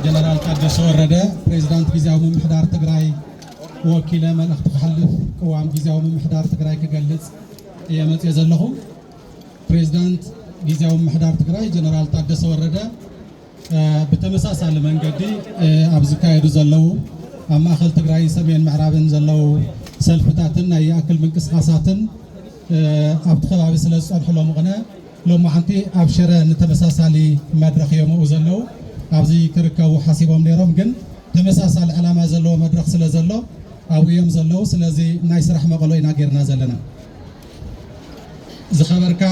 ጀነራል ታደሰ ወረደ ፕሬዚዳንት ጊዜያዊ ምምሕዳር ትግራይ ወኪለ መልእኽቲ ክሕልፍ ቅዋም ጊዜያዊ ምምሕዳር ትግራይ ክገልፅ እየ መፅየ ዘለኹ። ፕሬዚዳንት ጊዜያዊ ምምሕዳር ትግራይ ጀነራል ታደሰ ወረደ ብተመሳሳሊ መንገዲ ኣብ ዝካየዱ ዘለዉ ኣብ ማእኸል ትግራይን ሰሜን ምዕራብን ዘለዉ ሰልፍታትን ናይ ይኣክል ምንቅስቓሳትን ኣብቲ ከባቢ ስለ ዝፀንሑ ሎሚ ቅነ ሎማዕንቲ ኣብ ሽረ ንተመሳሳሊ መድረኽ ዮምኡ ዘለዉ ኣብዚ ክርከቡ ሓሲቦም ነይሮም ግን ተመሳሳሊ ዕላማ ዘለዎ መድረኽ ስለ ዘሎ ኣብኡ እዮም ዘለዉ ስለዚ ናይ ስራሕ መቐሎ ኢና ጌርና ዘለና ዝኸበርካ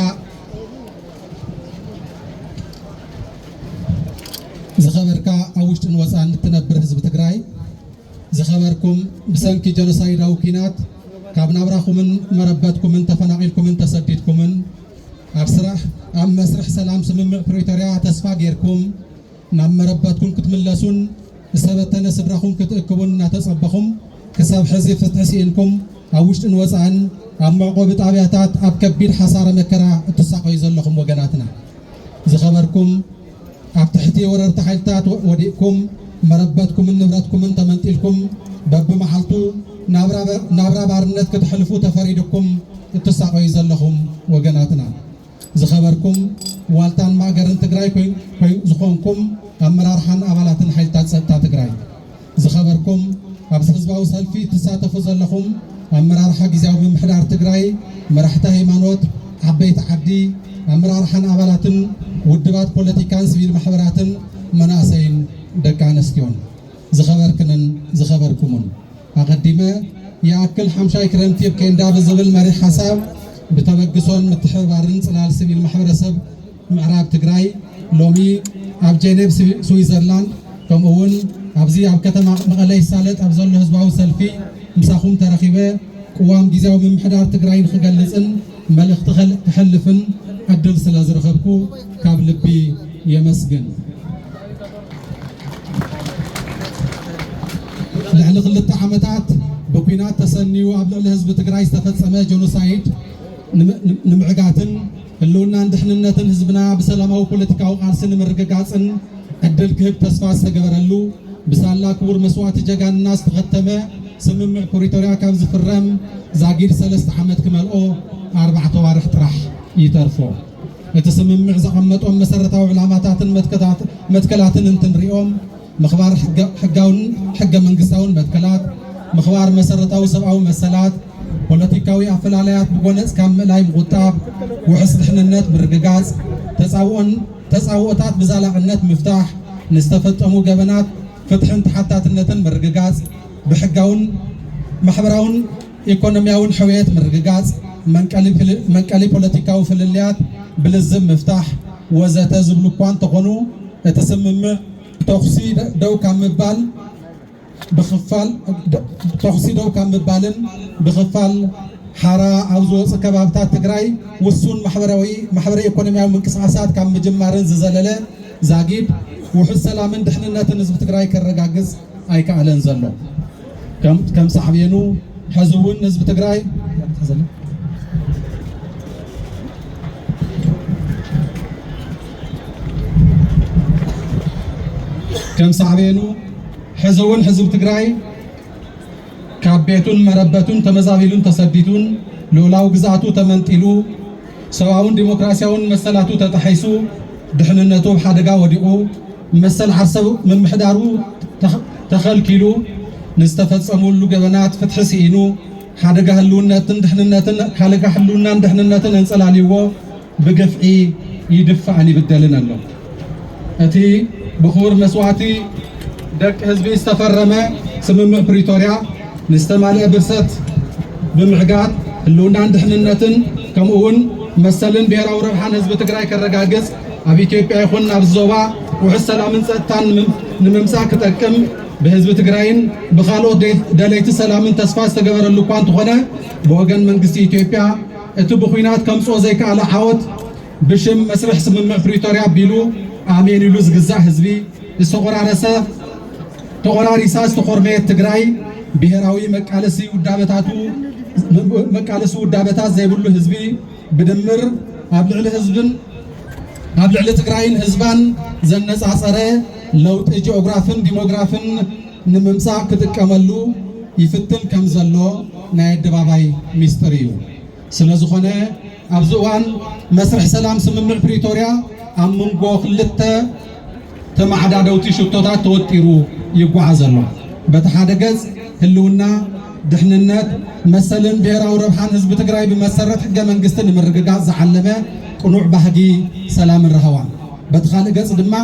ዝኸበርካ ኣብ ውሽጥን ወፃን እትነብር ህዝቢ ትግራይ ዝኸበርኩም ብሰንኪ ጀኖሳይዳዊ ኲናት ካብ ናብራኹምን መረበትኩምን ተፈናቒልኩምን ተሰዲድኩምን ኣብ ስራሕ ኣብ መስርሕ ሰላም ስምምዕ ፕሪቶርያ ተስፋ ጌርኩም ናብ መረበትኩም ክትምለሱን ዝተበተነ ስድራኹም ክትእክቡን እናተፀበኹም ክሳብ ሕዚ ፍትሒ ስኢንኩም ኣብ ውሽጥን ወፃእን ኣብ መዕቆቢ ጣብያታት ኣብ ከቢድ ሓሳረ መከራ እትሳቐዩ ዘለኹም ወገናትና ዝኸበርኩም ኣብ ትሕቲ ወረርቲ ሓይልታት ወዲቕኩም፣ መረበትኩምን ንብረትኩምን ተመንጢልኩም፣ በብመዓልቱ ናብራ ባርነት ክተሕልፉ ተፈሪዱኩም እትሳቐዩ ዘለኹም ወገናትና፣ ዝኸበርኩም ዋልታን ማእገርን ትግራይ ዝኾንኩም ኣመራርሓን ኣባላትን ሓይልታት ፀጥታ ትግራይ፣ ዝኸበርኩም ኣብዚ ህዝባዊ ሰልፊ እትሳተፉ ዘለኹም ኣመራርሓ ግዝያዊ ምምሕዳር ትግራይ፣ መራሕቲ ሃይማኖት፣ ዓበይቲ ዓዲ፣ ኣመራርሓን ኣባላትን ውድባት ፖለቲካን ስቪል ማሕበራትን መናእሰይን ደቂ ኣነስትዮን። ዝኸበርክንን ዝኸበርኩሙን፣ ኣቐዲመ ይኣክል ሓምሻይ ክረምቲ ኣብ ኬንዳ ብዝብል መሪሕ ሓሳብ ብተበግሶን ምትሕብባርን ጽላል ስቪል ማሕበረሰብ ምዕራብ ትግራይ ሎሚ ኣብ ጀኔቭ ስዊዘርላንድ ከምኡ እውን ኣብዚ ኣብ ከተማ መቐለ ይሳለጥ ኣብ ዘሎ ህዝባዊ ሰልፊ ምሳኹም ተረኺበ ቅዋም ግዜያዊ ምምሕዳር ትግራይ ንክገልፅን መልእኽቲ ክሕልፍን ዕድል ስለ ዝረኸብኩ ካብ ልቢ የመስግን። ልዕሊ ክልተ ዓመታት ብኩናት ተሰንዩ ኣብ ልዕሊ ህዝቢ ትግራይ ዝተፈፀመ ጀኖሳይድ ንምዕጋትን ህልውናን ድሕንነትን ህዝብና ብሰላማዊ ፖለቲካዊ ቃልሲ ንምርግጋፅን ዕድል ክህብ ተስፋ ዝተገበረሉ ብሳላ ክቡር መስዋእቲ ጀጋንና ዝተኸተመ ስምምዕ ፕሪቶርያ ካብ ዝፍረም ዛጊድ ሰለስተ ዓመት ክመልኦ ኣርባዕተ ኣዋርሕ ጥራሕ ይተርፎ። እቲ ስምምዕ ዘቐመጦም መሰረታዊ ዕላማታትን መትከላትን እንትንሪኦም ምኽባር ሕጋውን ሕገ መንግስታውን መትከላት፣ ምኽባር መሰረታዊ ሰብኣዊ መሰላት፣ ፖለቲካዊ ኣፈላላያት ብጎነጽ ካብ ምእላይ ምቑጣብ፣ ውሕስ ድሕንነት ምርግጋጽ፣ ተጻብኦን ተጻብኦታት ብዛላዕነት ምፍታሕ፣ ንዝተፈጸሙ ገበናት ፍትሕን ተሓታትነትን ምርግጋጽ፣ ብሕጋውን ማሕበራውን ኢኮኖሚያውን ሕውየት ምርግጋፅ፣ መንቀሊ ፖለቲካዊ ፍልልያት ብልዝብ ምፍታሕ ወዘተ ዝብሉ እኳ እንተኾኑ እቲ ስምምዕ ተኹሲ ደው ካብ ምባል ብኽፋል ተኹሲ ደው ካብ ምባልን ብኽፋል ሓራ ኣብ ዝወፁ ከባብታት ትግራይ ውሱን ማሕበራዊ ማሕበረ ኢኮኖሚያዊ ምንቅስቓሳት ካብ ምጅማርን ዝዘለለ ዛጊድ ውሑስ ሰላምን ድሕንነትን ህዝቢ ትግራይ ከረጋግፅ ኣይከኣለን ዘሎ። ከም ሳዕቤኑ ሕዚ እውን ህዝቢ ትግራይ ከም ሳዕቤኑ ሕዚ እውን ህዝቢ ትግራይ ካብ ቤቱን መረበቱን ተመዛቢሉን ተሰዲዱን ልኡላዊ ግዝኣቱ ተመንጢሉ ሰብኣውን ዲሞክራሲያውን መሰላቱ ተጣሒሱ፣ ድሕንነቱ ኣብ ሓደጋ ወዲቑ፣ መሰል ዓርሰ ምምሕዳሩ ተኸልኪሉ፣ ንዝተፈፀሙሉ ገበናት ፍትሒ ስኢኑ፣ ሓደጋ ህልውነትን ድሕንነትን ሓደጋ ህልውናን ድሕንነትን ኣንፀላልዩዎ ብግፍዒ ይድፋእን ይብደልን ኣሎ። እቲ ብኽቡር መስዋእቲ ደቂ ህዝቢ ዝተፈረመ ስምምዕ ፕሪቶርያ ንዝተማልአ ብርሰት ብምዕጋት ህልውናን ድሕንነትን ከምኡ እውን መሰልን ብሔራዊ ረብሓን ህዝቢ ትግራይ ከረጋግፅ ኣብ ኢትዮጵያ ይኹን ናብ ዞባ ውሕስ ሰላምን ፀጥታን ንምምፃእ ክጠቅም ብህዝቢ ትግራይን ብካልኦት ደለይቲ ሰላምን ተስፋ ዝተገበረሉ እኳ እንተኾነ ብወገን መንግስቲ ኢትዮጵያ እቲ ብኩናት ከምፅኦ ዘይከኣለ ዓወት ብሽም መስርሕ ስምምዕ ፕሪቶርያ ኣቢሉ ኣሜን ኢሉ ዝግዛእ ህዝቢ ዝተቆራረሰ ተቆራሪሳ ዝተኾርመየት ትግራይ ብሄራዊ መቃለሲ ውዳበታቱ መቃለሲ ውዳበታት ዘይብሉ ህዝቢ ብድምር ኣብ ልዕሊ ህዝብን ኣብ ልዕሊ ትግራይን ህዝባን ዘነፃፀረ ለውጢ ጂኦግራፍን ዲሞግራፍን ንምምፃእ ክጥቀመሉ ይፍትን ከም ዘሎ ናይ ኣደባባይ ሚስጥር እዩ። ስለዝኾነ ኣብዚ እዋን መስርሕ ሰላም ስምምዕ ፕሪቶርያ ኣብ መንጎ ክልተ ተመዓዳደውቲ ሽቶታት ተወጢሩ ይጓዓዝ ኣሎ። በቲ ሓደ ገፅ ህልውና፣ ድሕንነት፣ መሰልን ብሄራዊ ረብሓን ህዝቢ ትግራይ ብመሰረት ሕገ መንግስቲ ንምርግጋፅ ዝዓለመ ቅኑዕ ባህጊ ሰላምን ራህዋን፣ በቲ ካልእ ገፅ ድማ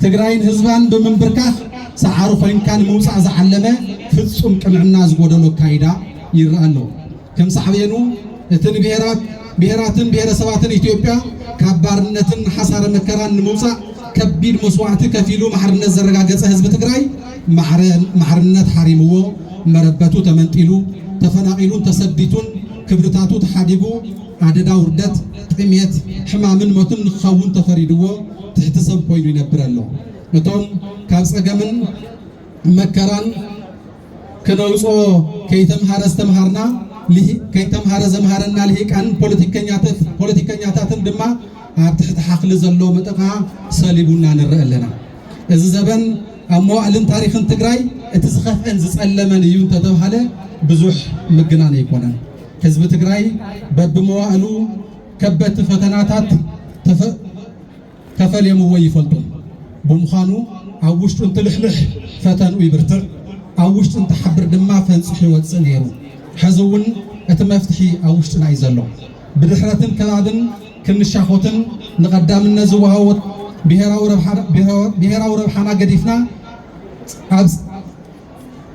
ትግራይን ህዝባን ብምንብርካኽ ሰዓሪ ኮይንካ ንምውፃእ ዝዓለመ ፍፁም ቅንዕና ዝጎደሎ ኣካይዳ ይረኣ ኣሎ። ከም ሳዕቤኑ እቲ ንብሄራት፣ ብሄራትን ብሄረሰባትን ኢትዮጵያ ካብ ባርነትን ሓሳረ መከራን ንምውፃእ ከቢድ መስዋዕቲ ከፊሉ ማዕርነት ዘረጋገፀ ህዝቢ ትግራይ ማዕረ ማዕርነት ሓሪምዎ መረበቱ ተመንጢሉ ተፈናቒሉን ተሰዲቱን ክብርታቱ ተሓዲጉ ኣደዳ ውርደት፣ ጥሜት፣ ሕማምን ሞትን ንክኸውን ተፈሪድዎ ትሕቲ ሰብ ኮይኑ ይነብር ኣሎ። እቶም ካብ ፀገምን መከራን ክነውጽኦ ከይተምሃረ ዝተምሃርና ከይተምሃረ ዘምሃረና ልሂቃንን ፖለቲከኛታትን ድማ ኣብ ትሕቲ ሓኽሊ ዘሎ መጠቓ ሰሊቡና ንርአ ኣለና። እዚ ዘበን ኣብ መዋእልን ታሪኽን ትግራይ እቲ ዝኸፍአን ዝጸለመን እዩ እንተተብሃለ ብዙሕ ምግናን ኣይኮነን። ህዝቢ ትግራይ በብመዋእሉ ከበድቲ ፈተናታት ተፈልየምዎ ይፈልጡ ብምዃኑ ኣብ ውሽጡ እንትልሕልሕ ፈተንኡ ይብርትዕ፣ ኣብ ውሽጡ እንትሓብር ድማ ፈንፂሑ ይወፅእ ነይሩ። ሕዚ እውን እቲ መፍትሒ ኣብ ውሽጥና እዩ ዘሎ። ብድሕረትን ከባብን ክንሻኾትን ንቐዳምነት ዝወሃቦ ብሄራዊ ረብሓና ገዲፍና ኣብ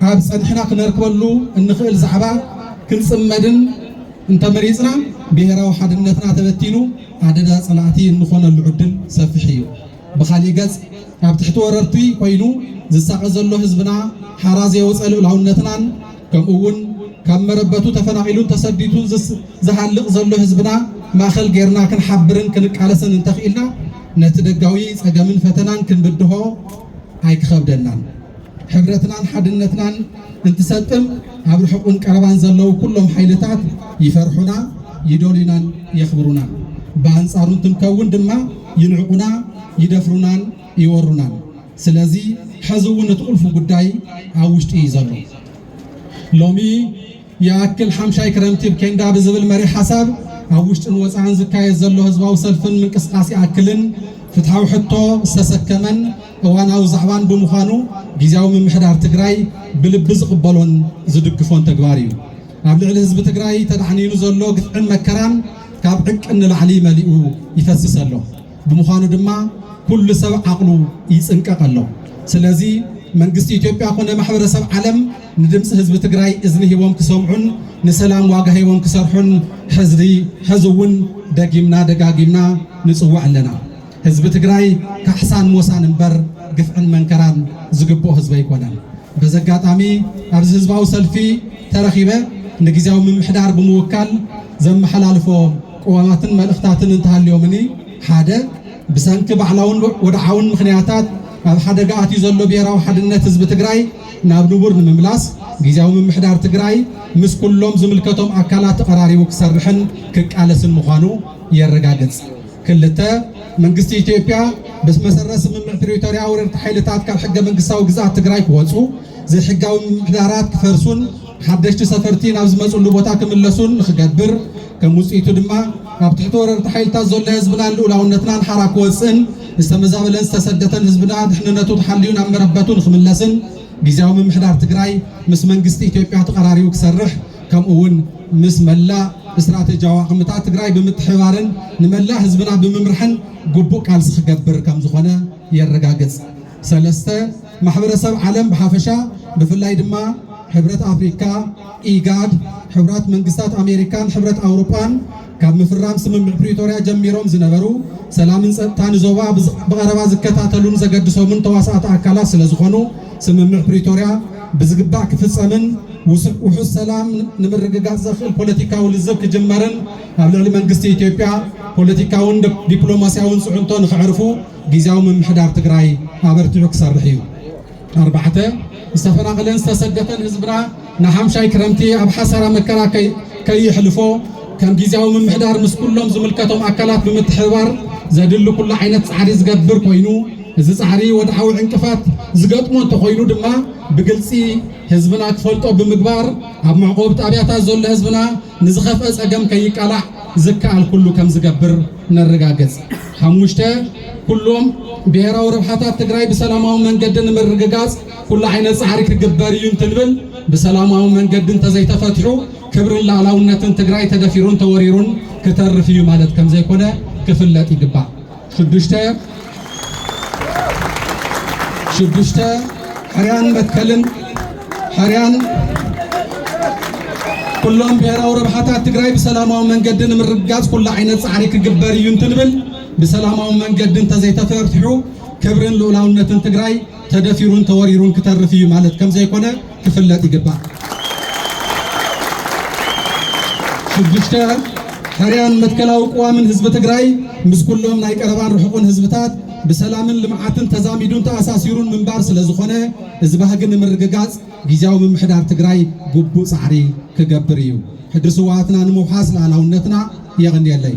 ካብ ጸንሕና ክነርክበሉ እንኽእል ዛዕባ ክንጽመድን እንተመሪጽና ብሔራዊ ሓድነትና ተበቲኑ ኣደዳ ጸላእቲ እንኾነሉ ዕድል ሰፊሕ እዩ። ብኻሊእ ገጽ ኣብ ትሕቲ ወረርቲ ኮይኑ ዝሳቐ ዘሎ ህዝብና ሓራ ዘየውፀ ልኡላውነትናን ከምኡ እውን ካብ መረበቱ ተፈናቒሉን ተሰዲቱን ዝሃልቕ ዘሎ ህዝብና ማእኸል ጌርና ክንሓብርን ክንቃለስን እንተኽኢልና ነቲ ደጋዊ ጸገምን ፈተናን ክንብድሆ ኣይክኸብደናን። ሕብረትናን ሓድነትናን እንትሰጥም ኣብ ርሑቕን ቀረባን ዘለዉ ኩሎም ሓይልታት ይፈርሑና፣ ይደልዩናን የኽብሩናን። ብኣንጻሩ እንትንከውን ድማ ይንዕቑና፣ ይደፍሩናን ይወሩናን። ስለዚ ሐዚ እውን እቲ ቁልፊ ጉዳይ ኣብ ውሽጢ እዩ ዘሎ። ሎሚ ይኣክል ሓምሻይ ክረምቲብ ኬንዳ ብዝብል መሪሕ ሓሳብ ኣብ ውሽጥን ወፃእን ዝካየድ ዘሎ ህዝባዊ ሰልፍን ምንቅስቓስ ይኣክልን ፍትሓዊ ሕቶ ዝተሰከመን እዋናዊ ዛዕባን ብምዃኑ ጊዜያዊ ምምሕዳር ትግራይ ብልቢ ዝቕበሎን ዝድግፎን ተግባር እዩ። ኣብ ልዕሊ ህዝቢ ትግራይ ተዳዕኒኑ ዘሎ ግፍዕን መከራን ካብ ዕቅን ንላዕሊ መሊኡ ይፈስስ ኣሎ። ብምዃኑ ድማ ኩሉ ሰብ ዓቕሉ ይፅንቀቕ ኣሎ። ስለዚ መንግስቲ ኢትዮጵያ ኮነ ማሕበረሰብ ዓለም ንድምፂ ህዝቢ ትግራይ እዝኒ ሂቦም ክሰምዑን ንሰላም ዋጋ ሂቦም ክሰርሑን ሕዝሪ ሕዚ እውን ደጊምና ደጋጊምና ንፅውዕ ኣለና። ህዝቢ ትግራይ ካሕሳን ሞሳን እምበር ግፍዕን መንከራን ዝግብኦ ህዝቢ ኣይኮነን። በዚ ኣጋጣሚ ኣብዚ ህዝባዊ ሰልፊ ተረኺበ ንግዝያዊ ምምሕዳር ብምውካል ዘመሓላልፎ ቅዋማትን መልእኽታትን እንተሃልዮምኒ ሓደ ብሰንኪ ባዕላውን ወድዓውን ምኽንያታት ኣብ ሓደጋ ኣትዩ ዘሎ ብሄራዊ ሓድነት ህዝቢ ትግራይ ናብ ንቡር ንምምላስ ግዝያዊ ምምሕዳር ትግራይ ምስ ኩሎም ዝምልከቶም ኣካላት ተቐራሪቡ ክሰርሕን ክቃለስን ምዃኑ የረጋግጽ። ክልተ፣ መንግስቲ ኢትዮጵያ ብመሰረት ስምምዕ ፕሪቶርያ ወረርቲ ሓይልታት ካብ ሕገ መንግስታዊ ግዝኣት ትግራይ ክወጹ፣ ዘይሕጋዊ ምምሕዳራት ክፈርሱን ሓደሽቲ ሰፈርቲ ናብ ዝመጽሉ ቦታ ክምለሱን ንክገብር ከም ውጽኢቱ ድማ ኣብ ትሕቲ ወረርቲ ሓይልታት ዘሎ ህዝብናን ልኡላውነትናን ሓራ ክወጽእን ዝተመዛበለን ዝተሰደተን ህዝብና ድሕንነቱ ተሓልዩ ናብ መረበቱ ንክምለስን ጊዚያዊ ምምሕዳር ትግራይ ምስ መንግስቲ ኢትዮጵያ ተቐራሪቡ ክሰርሕ ከምኡ እውን ምስ መላእ ስትራቴጂያዊ ኣቕምታት ትግራይ ብምትሕብባርን ንመላእ ህዝብና ብምምርሕን ግቡእ ቃልሲ ክገብር ከምዝኾነ የረጋግፅ። ሰለስተ ማሕበረሰብ ዓለም ብሓፈሻ ብፍላይ ድማ ሕብረት ኣፍሪካ፣ ኢጋድ፣ ሕቡራት መንግስታት ኣሜሪካን ሕብረት ኣውሮጳን ካብ ምፍራም ስምምዕ ፕሪቶርያ ጀሚሮም ዝነበሩ ሰላምን ጸጥታን ዞባ ብቐረባ ዝከታተሉን ዘገድሶምን ተዋሳእቲ ኣካላት ስለ ዝኾኑ ስምምዕ ፕሪቶርያ ብዝግባእ ክፍጸምን ውሑስ ሰላም ንምርግጋጽ ዘኽእል ፖለቲካዊ ልዝብ ክጅመርን ኣብ ልዕሊ መንግስቲ ኢትዮጵያ ፖለቲካውን ዲፕሎማስያውን ጽዕንቶ ንክዕርፉ ግዜያዊ ምምሕዳር ትግራይ ኣበርቲዑ ክሰርሕ እዩ። ኣርባዕተ፣ ዝተፈናቐለን ዝተሰደተን ህዝብና ንሓምሻይ ክረምቲ ኣብ ሓሳራ መከራ ከይሕልፎ ከም ግዝያዊ ምምሕዳር ምስ ኩሎም ዝምልከቶም ኣካላት ብምትሕብባር ዘድሊ ኩሉ ዓይነት ፃዕሪ ዝገብር ኮይኑ እዚ ፃዕሪ ወድዓዊ ዕንቅፋት ዝገጥሞ እንተኾይኑ ድማ ብግልፂ ህዝብና ክፈልጦ ብምግባር ኣብ መዕቆብቲ ኣብያታት ዘሎ ህዝብና ንዝኸፍአ ፀገም ከይቃላዕ ዝከኣል ኩሉ ከም ዝገብር ነረጋግፅ። ሓሙሽተ፣ ኩሎም ብሄራዊ ረብሓታት ትግራይ ብሰላማዊ መንገዲ ንምርግጋፅ ኩሉ ዓይነት ፃዕሪ ክግበር እዩ እንትንብል ብሰላማዊ መንገዲ እንተዘይተፈትሑ ክብርን ላዕላውነትን ትግራይ ተደፊሩን ተወሪሩን ክተርፍ እዩ ማለት ከምዘይኮነ ክፍለጥ ይግባእ። ሽዱሽተ ሽዱሽተ ሕርያን መትከልን ሕርያን ኩሎም ብሔራዊ ረብሓታት ትግራይ ብሰላማዊ መንገዲ ንምርግጋፅ ኩሉ ዓይነት ፃዕሪ ክግበር እዩ እንትንብል ብሰላማዊ መንገዲ እንተዘይተፈርትሑ ክብርን ልኡላውነትን ትግራይ ተደፊሩን ተወሪሩን ክተርፍ እዩ ማለት ከም ዘይኮነ ክፍለጥ ይግባእ። ሽዱሽተ ሕርያን መትከላዊ ቅዋምን ህዝቢ ትግራይ ምስ ኩሎም ናይ ቀረባን ርሑቕን ህዝብታት ብሰላምን ልምዓትን ተዛሚዱን ተኣሳሲሩን ምንባር ስለ ዝኾነ እዚ ባህጊ ንምርግጋፅ ግዜያዊ ምምሕዳር ትግራይ ግቡእ ፃዕሪ ክገብር እዩ። ሕድሪ ስዋኣትና ንምውሓስ ልኣላውነትና የቕንየለይ።